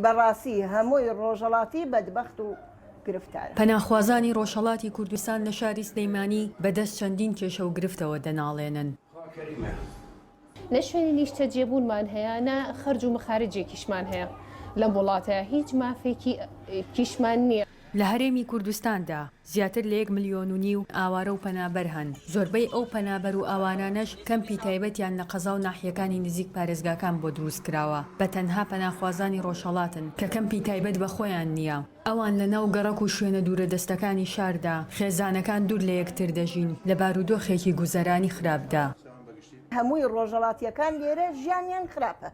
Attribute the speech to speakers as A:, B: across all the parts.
A: بەڕاستی هەمووی ڕۆژەڵاتی بەدبەخت و گرفتارە. پەناخوازانی
B: ڕۆژهەڵاتی کوردستان لە شاری سلێمانی بە دەست چەندین کێشە و گرفتەوە دەناڵێنن.
C: نە شوێنی نیشتەجێبوونمان هەیە، نە خەرج و مەخارجێکیشمان هەیە لەم وڵاتە، هیچ مافێکیشمان نییە. لە هەرێمی
B: کوردستاندا زیاتر لە یەک ملیۆن و نیو ئاوارە و پەنابەر هەن، زۆربەی ئەو پەنابەر و ئاوارانەش کەمپی تایبەتیان لە قەزا و ناحیەکانی نزیک پارێزگاکان بۆ دروست کراوە، بە تەنها پەناخوازانی ڕۆژهەڵاتن کە کەمپی تایبەت بە خۆیان نییە، ئەوان لە ناو گەڕەک و شوێنە دوورەدەستەکانی شاردا، خێزانەکان دوور لە یەکتر دەژین، لە بارودۆخێکی گوزەرانی خراپدا. هەمووی
A: ڕۆژهەڵاتییەکان لێرە ژیانیان خراپە.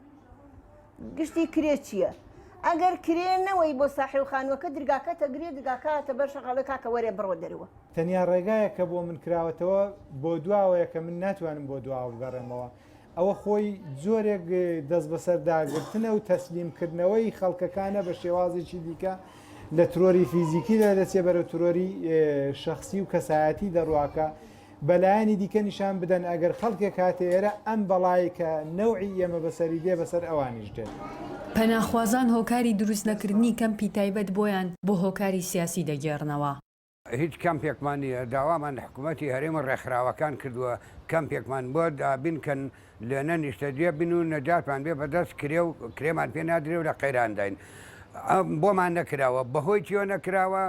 A: گشتی کرێ چیە ئەگەر کرێ نەوەی بۆ ساحێو خانوەکە درگاکە تەگری درگاکە هاتە بەر شەقاڵێ کاکە وەرێ بڕۆ دەروە. تەنیا ڕێگایەک
D: کە بۆ من کراوەتەوە بۆ دواوەیە کە من ناتوانم بۆ دواوە بگەڕێمەوە ئەوە خۆی جۆرێک دەست بەسەر داگرتنە و تەسلیم کردنەوەی خەڵکەکانە بە شێوازێکی دیکە لە ترۆری فیزیکی لە دەچێ بەرەو ترۆری شەخسی و کەسایەتی دەڕواکە بە لایەنی دیکە نیشان بدەن ئەگەر خەڵکێک هاتە ئێرە ئەم بەڵای کە نەوعی ئێمە بەسەری دێ بەسەر ئەوانیش دێت. پەناخوازان
B: هۆکاری دروست نەکردنی کەمپی تایبەت بۆیان بۆ هۆکاری سیاسی دەگێڕنەوە. هیچ
E: کەمپێکمان نییە، داوامان لە حکوومەتی هەرێم و ڕێکخراوەکان کردووە کەمپێکمان بۆ دابینکەن، لێ نە نیشتەجێ بین و نە جاشمان بێ بەدەست، کرێ و کرێمان پێ نادرێ و لە قەیرانداین. بۆمان نەکراوە. بەهۆی چییەوە نەکراوە؟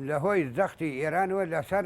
E: لەهۆی زەختی ئێرانەوە لەسەر.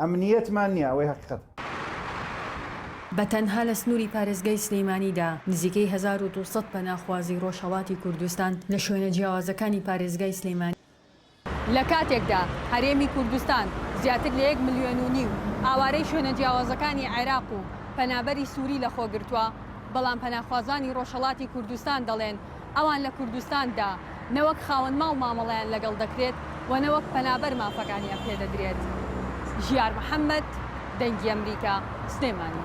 F: ئەمنییەتمان نییە، ئەوەی هەقیقەتە.
B: بە تەنها لە سنووری پارێزگای سلێمانیدا نزیکەی هەزار و دوو سەد پەناخوازی ڕۆژهەڵاتی کوردستان لە شوێنە جیاوازەکانی پارێزگای سلێمانی، لە
G: کاتێکدا هەرێمی کوردستان زیاتر لە یەک ملیۆن و نیو ئاوارەی شوێنە جیاوازەکانی عێراق و پەنابەری سووری لەخۆگرتووە، بەڵام پەناخوازانی ڕۆژهەڵاتی کوردستان دەڵێن ئەوان لە کوردستان دا نە وەک خاوەن ماڵ مامەڵەیان لەگەڵ دەکرێت و نە وەک پەنابەر مافەکانیان پێدەدرێت. ژیار محەمەد، دەنگی ئەمریکا، سلێمانی.